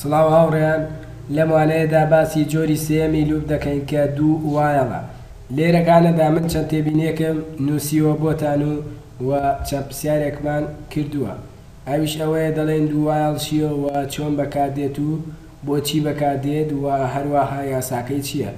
سڵاو هاوڕێیان لەم وانەیەدا باسی جۆری سێیەمی لوپ دەکەین کە دوو وایەڵە لێرە گانەدا من چەند تێبینیەکەم نووسیوە بۆتان و و چەند پرسیارێکمان کردووە ئەویش ئەوەیە دەڵێن دوو وایەڵ چیە و چۆن بەکاردێت و بۆچی بەکاردێت و هەروەها یاساکەی چییە؟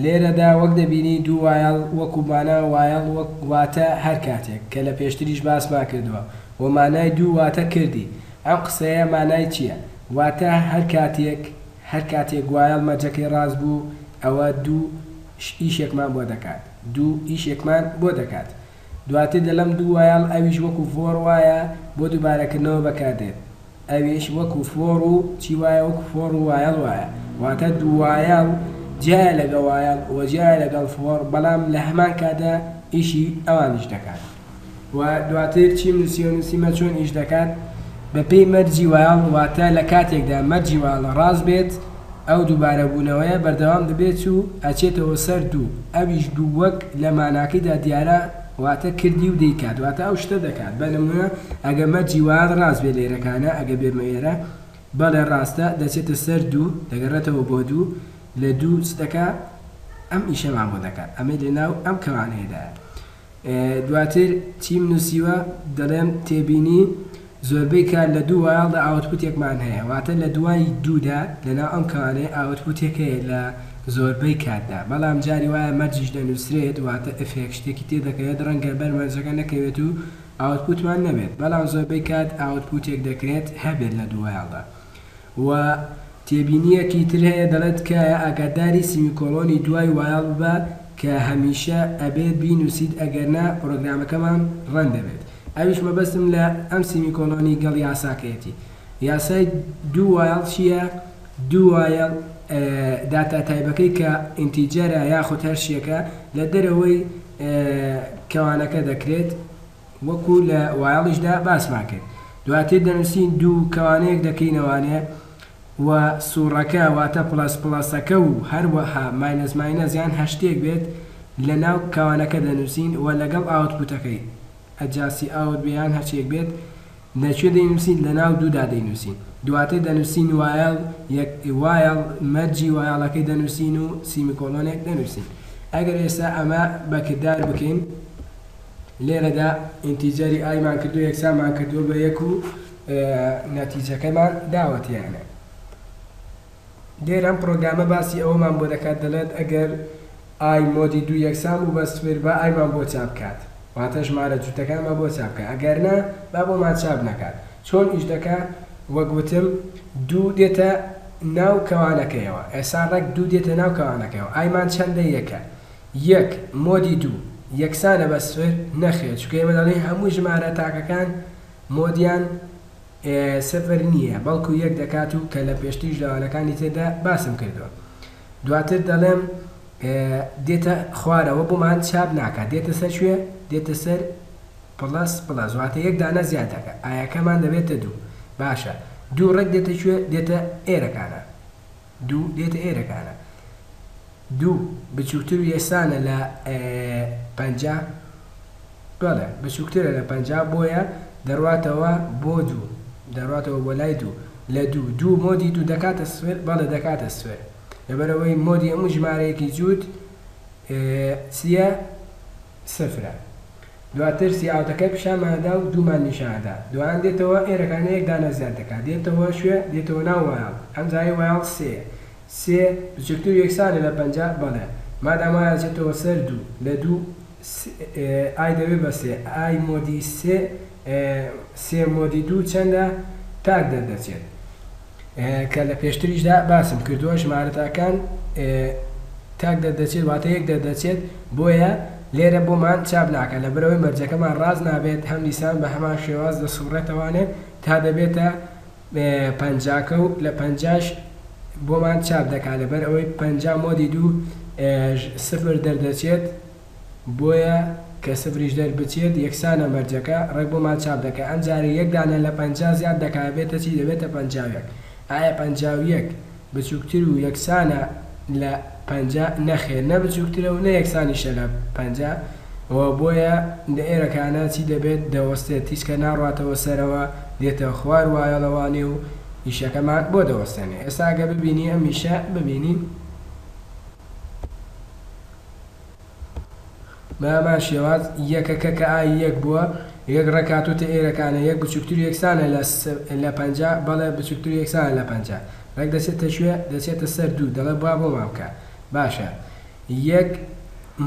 لێرەدا وەک دەبینی دوو وایڵ وەکو مانا وایڵ وەک واتە هەر کاتێک کە لە پێشتریش باسمان کردووە و مانای دوو واتە کردی ئەم قسەیە مانای چییە واتە هەر کاتێک هەر کاتێک وایڵ مەرجەکەی ڕاست بوو ئەوە دوو ئیشێکمان بۆ دەکات دوو ئیشێکمان بۆ دەکات دواتر دەلم دوو وایەڵ ئەویش وەکو فۆر وایە بۆ دوبارەکردنەوە بەکاردێت ئەویش وەکو فۆر و چی وایە وەکو فۆر و وایەڵ وایە واتە دووایەڵ جیایە لەگە وایەڵ وە جیایە لەگەڵ فۆر بەڵام لەهەمان کاتدا ئیشی ئەوانیش دەکات وە دواتر چیم نوسیوە نوسیمە چۆن ئیش دەکات بەپێی مەرجی وایەڵ واتە لەکاتێکدا مەرجی وایەڵ ڕاست بێت ئەو دووبارەبوونەوەیە بەردەوام دەبێت و ئەچێتەوە سەر دوو، ئەویش دوو وەک لە ماناکەیدا دیارە واتە کردی و دەیکات واتە ئەو شتە دەکات، بە نموونە ئەگە مەرجی وات ڕاست بێ لێرەکانە ئەگە بێمە ئێرە بەڵێ ڕاستە دەچێتە سەر دوو دەگەڕێتەوە بۆ دوو لە دوو چ دەکات ئەم ئیشەمان بۆ دەکات ئەمەی لە ناو ئەم کەوانەیەدایە. دواتر چیم نووسیوە، دەڵێم تێبینی، زۆربەی کات لە دوو وایڵدا ئاوتپوتێکمان هەیە، واتە لە دوای دوودا لەناو ئەم کەوانەیە ئاوتپوتێک هەیە لە زۆربەی کاتدا، بەڵام جاری وایە مەرجیش دەنووسرێت، واتە ئفێک شتێکی تێدەکەوێت، ڕەنگە بەر مەرجەکە نەکەوێت و ئاوتپوتمان نەبێت، بەڵام زۆربەی کات ئاوتپوتێک دەکرێت هەبێت لە دوو وایڵدا. و تێبینییەکی تر هەیە دەڵێت، تکایە ئاگاداری سیمیکۆڵۆنی دوای وایڵ ببە کە هەمیشە ئەبێت بینووسیت ئەگەرنا پڕۆگرامەکەمان ڕەن دەبێت. ئەویش مەبەستم لە ئەم سیمیکۆڵۆنی گەڵ یاساکەیەتی. یاسای دوو وایڵ چییە؟ دوو وایڵ داتا تایبەکەی کە ئینتیجەرە یاخود هەر شتێکە لە دەرەوەی کەوانەکە دەکرێت وەکو لە وایڵیشدا باسمان کرد دواتر دەنوسین دوو کەوانەیەک دەکەینە وانەیە و سوڕەکە واتە پڵەس پڵەسەکە و هەروەها ماینەس ماینەس یان هەشتێک بێت لە ناو کەوانەکە دەنوسین و لەگەڵ ئاوتپوتەکەی ئەجاسی ئاوت بێ یان هەرچیەک بێت نە کوێ دەینووسین، لە ناو دوودا دەینووسین. دواتر دەنووسین وایڵ یەک وایڵ مەرجی وایڵەکەی دەنووسین و سیمیکۆلۆنێک دەنووسین. ئەگەر ئێستا ئەمە بە کردار بکەین، لێرەدا ئینتیجەری ئای مان کردووە یەکسانمان کردووە بە یەک و نەتیجەکەمان داوەتێ. لێرە ئەم پڕۆگرامە باسی ئەوەمان بۆ دەکات دەڵێت ئەگەر ئای مۆدی دوو یەکسان بوو بە سفر با ئایمان بۆ چاپ کات واتە ژمارە جوتەکانمان بۆ چاپ کە ئەگەر نا با بۆمان چاپ نەکات چۆن ئیش دەکا وەک وتم دوو دێتە ناو کەوانەکەیەوە ئێسا ڕێک دوو دێتە ناو کەوانەکەیەوە ئایمان چەندە یەکە یەک مۆدی دوو یەکسانە بە سفر نەخێر چونکە ئێمە دەڵێین هەموو ژمارە تاکەکان مۆدیان سفر نییە بەڵکو یەک دەکات و کە لە پێشتریش لە وانەکانی تردا باسم کردووە دواتر دەڵێم دێتە خوارەوە بۆمان چاپ ناکات دێتە سەر کوێ دێتە سەر پڵەس پڵەس واتە یەک دانە زیاد دەکا ئایەکەمان دەبێتە دوو باشە دوو ڕێک دێتە کوێ دێتە ئێرەکانە. دوو دێتە ئێرەکانە دوو بچووکتر و یەسانە لە پەنجا بەڵێ بچووکترە لە پەنجا بۆیە دەڕواتەوە بۆ دوو دەڕاتەوە بۆ لای دوو لە دوو دوو مۆدی دوو دەکاتە سفر بەڵێ دەکاتە سفر لەبەرەوەی مۆدی هەموو ژمارەیەکی جووت چییە سفرە. دواتر سیعاتەکەی پیشانمان ئەدا و دوومان نیشان ئەدا. دوایان دێتەوە ئێرەکان یەک دانە زیاد دەکا. دێتەوە کوێ؟ دێتەوە ناو وایڵ. ئەم جارەی وایڵ سێ یە. سێ بچووکتر و یەکسانە لە پەنجا؟ بەڵێ. مادام وایە ئەچێتەوە سەر دوو. لە دوو س ئای دەبێ بە سێ. ئای مۆدی سێ سێ مۆدی دوو چەندە؟ تاک دەردەچێت. کە لە پێشتریشدا باسم کردووە ژمارەتاکان تاک دەردەچێت واتە یەک دەردەچێت بۆیە لێرە بۆمان چاپ ناکات لەبەرئەوەی مەرجەکەمان ڕاست نابێت هەم دیسان بە هەمان شێواز دەسوڕێتەوانێ تا دەبێتە پەنجاکە و لە پەنجاش بۆمان چاپ دەکات لەبەرئەوەی پەنجا مۆدی دوو سفر دەردەچێت بۆیە کە سفریش دەربچێت یەکسانە مەرجەکە، ڕێک بۆمان چاپ دەکا ئەم جارە یەک دانە لە پەنجا زیاد دەکا ئەبێتە چی دەبێتە پەنجا و یەک ئایا پەنجا و یەک بچوکتر و یەکسانە لە پەنجا نەخێر نە بچوکترە و نە یەکسانیشە لە پەنجا وە بۆیە لە ئێرەکانە چی دەبێت دەوەستێت تیشکە ناڕواتەوە سەرەوە دێتە خوار وایە ڵەوانێ و ئیشەکەمان بۆ دەوەستێنێ ئێستا ئەگەر ببینی ئەم ئیشە ببینین. بە هەمان شێواز، یەکەکە کە ئای یەک بووە، یەک ڕێک هاتووتە ئێرەکانە، یەک بچووکتر و یەکسانە لە لە پەنجا، بەڵێ، بچووکتر و یەکسانە لە پەنجا. ڕێک دەچێتە کوێ؟ دەچێتە سەر دوو، دەڵێ با بۆمان بکە. باشە، یەک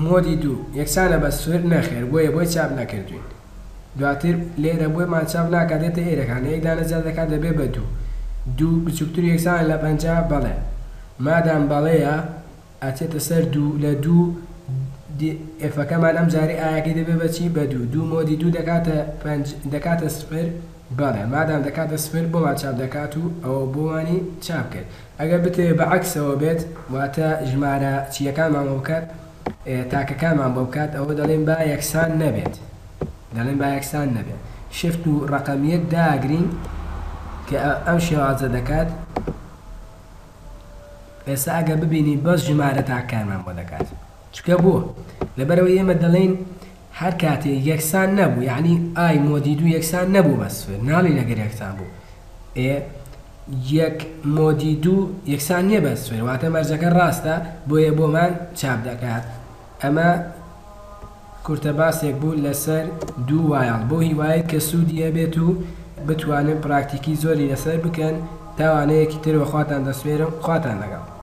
مۆدی دوو، یەکسانە بە سفر؟ نەخێر، بۆیە بۆی چاپ نەکردووین. دواتر لێرە بۆمان چاپ ناکا، دێتە ئێرەکانە، یەک دانە زیاد دەکا دەبێ بە دوو. دوو بچووکتر و یەکسانە لە پەنجا؟ بەڵێ. مادام بەڵێیە. ئەچێتە سەر دوو لە دوو دی ئێفەکەمان ئەم جارەی ئایەکەی دەبێ بە چی بە دوو دوو مۆدی دوو دەکاتە پەنج دەکاتە سفر بەڵێ مادام دەکاتە سفر بۆمان چاپ دەکات و ئەوە بۆمانی چاپ کرد ئەگەر بتەوێ بە عەکسەوە بێت واتە ژمارە چیەکانمان بۆ بکات تاکەکانمان بۆ بکات ئەوە دەڵێن با یەکسان نەبێت دەڵێن با یەکسان نەبێت شفت و ڕەقەمیەت داگرین کە ئەم شێوازە دەکات ئێستا ئەگەر ببینی بەس ژمارە تاکەکانمان بۆ دەکات چونکە بۆ؟ لەبەرئەوەی ئێمە دەڵێین هەر کاتێ یەکسان نەبوو یەعنی ئای مۆدی دوو یەکسان نەبوو بە سفر ناڵێین ئەگەر یەکسان بوو ئێ یەک مۆدی دوو یەکسان نییە بە سفر واتە مەرجەکە ڕاستە بۆیە بۆمان چاپ دەکات ئەمە کورتە باسێک بوو لەسەر دوو وایڵ بەو هیوایەی کە سوودی هەبێت و بتوانن پراکتیکی زۆری لەسەر بکەن، تا وانەیەکی تر وە خواتان دەسپێرم خواتان لەگەڵ.